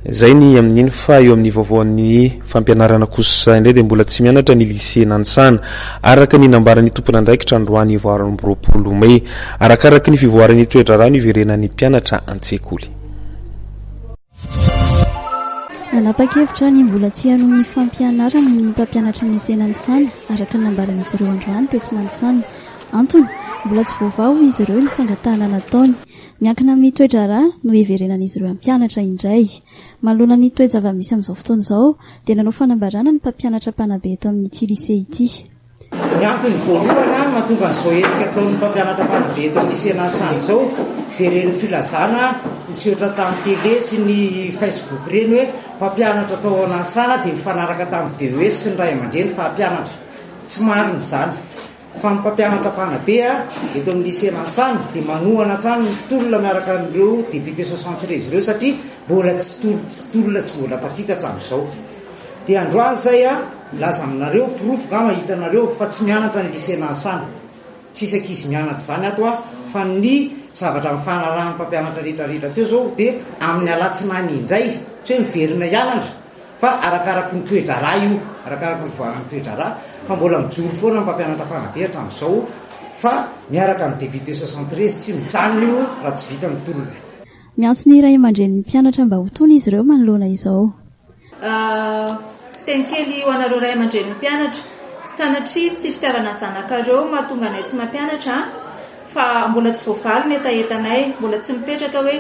Izay ny amin'iny fa eo amin'ny vaovaon'ny fampianarana kosa indray dia mbola tsy mianatra ny Lycée Nanisana, araka ny nambaran'ny tompon'andraikitra androany valo amby roapolo mey. Arakaraky ny fivoaran'ny toe-draharaha no hiverenan'ny mpianatra an-tsekoly. Nanapa-kevitra ny mbola tsy hanohy ny fampianarany ny mpampianatry ny Lycée Nanisana, araka ny nambaran'izy ireo androany tetsy Nanisana. Antony, mbola tsy voavaha hoy izy ireo ny fangatahana nataony. Miankina amin'ny toe-draharaha no hiverenan'izy ireo hampianatra indray. Manoloana ny toe-java-misy amin'izao fotoana izao, dia nanao fanambarana ny mpampianatra mpanabe eto amin'ity Lycée ity. Ny antony voalohany mahatonga an'izao hetsika ataon'ny mpampianatra mpanabe eto amin'ny Lycée Nansana izao dia ireny filazana nisehotra tamin'ny télé sy ny Facebook ireny hoe mpampianatra tao Nansana dia nifanaraka tamin'ny DES sy ny ray aman-dreny fa hampianatra. Tsy marina izany. Fa ny mpampianatra mpanabe eto amin'ny Lycée Ransamy dia manohana hatrany ny tolona miaraka amin'ireo députés soixante treize ireo satria mbola tsy tolo tsy tolona tsy mbola tafita hatramin'izao. Dia androany izay milaza aminareo porofo ngamba hitanareo fa tsy mianatra ny Lycée Ransamy. Tsisy ankizy mianatra izany ato fa ny zavatra nifanarahan'ny mpampianatra rehetra rehetra teo izao dia amin'ny alatsinainy indray tsy hoe miverina hianatra. Fa arakaraky ny toe-draharaha io, arakaraky ny fivoaran'ny toe-draharaha, fa mbola mijoro foana ny mpampianatra mpanabe hatramin'izao, fa miaraka amin'ny député soixante treize, tsy mijanona io raha tsy vita ny tolona. Miantso ny ray aman-drenin'ny mpianatra mba ho tony izy ireo manoloana izao. Teny kely ho anareo ray aman-drenin'ny mpianatra, sanatria tsy fitiavana ny zanakareo mahatonga anay tsy mampianatra an, fa mbola tsy voavaly ny hetahetanay, mbola tsy mipetraka hoe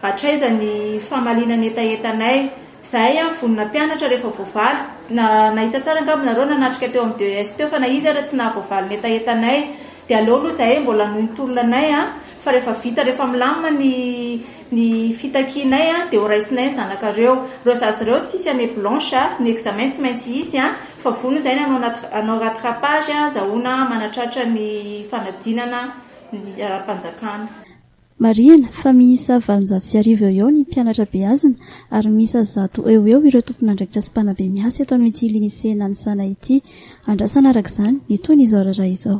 Hatraiza ny famaliana ny hetahetanay? Zahay an, vonona mpianatra rehefa voavaly. Nahita tsara angamba nareo nanatrika teo amin'ny DES teo fa na izy ara tsy nahavoavaly ny hetahetanay. Dia aleo aloha zahay mbola hanohy ny tolona anay an, fa rehefa vita rehefa milamina ny ny fitakianay an, dia ho raisinay ny zanakareo. Ireo zaza ireo tsy hisy année blanche an, ny examen tsy maintsy hisy an, fa vonona zahay ny hanao nat- hanao rattrapage an, azahoana manatratra ny fanadinana ny ara-panjakana. Marihina fa miisa valonjato sy arivo eo ho eo ny mpianatra beazina ary miisa zato eo ho eo ireo tompon'andraikitra sy mpanabe miasa eto amin'ity Lycée Nanisana ity. Andrasana araka izany ny toy ny izao raharaha izao.